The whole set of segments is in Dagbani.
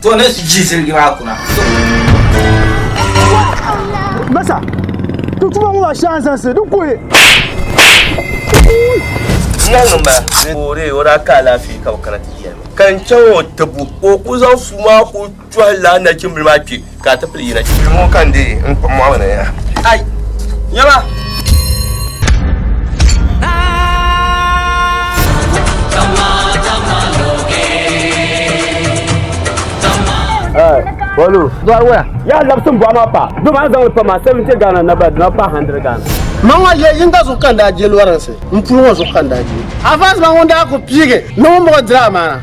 To ne ti ji ziligi maa kuna. Masa, ti tuma ŋɔ maa shɛŋa zaŋsi di kuhi. Nyɛŋ ma, boore o daa ka alaafee ka o kana ti yɛli ma. Ka n chaŋ o tibu, ka o ku zaŋ suu maa ku tɔhila nachimbili maa kpe ka a ti Ti yina chibi ŋɔ ka n dee n kpim mɔɣu ni ya. Ai, nyɛma! Bolu. Bolu waya. Ya labsim bɔɣu maa pa. Doo maa zaŋli pa maa 70 Ghana na ba dina pa 100 Ghana. Ma ŋɔ ye yinga zuɣu ka n daa je lɔrinsi. N puli ŋɔ zuɣu ka n daa je. Avance ma ŋun daa ku piigi ni ŋun muɣi diri amaana.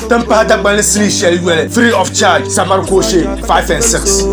Tin pahi Dagbanli sinii shɛli yoli free of charge Sabari Kooshe 5 and 6.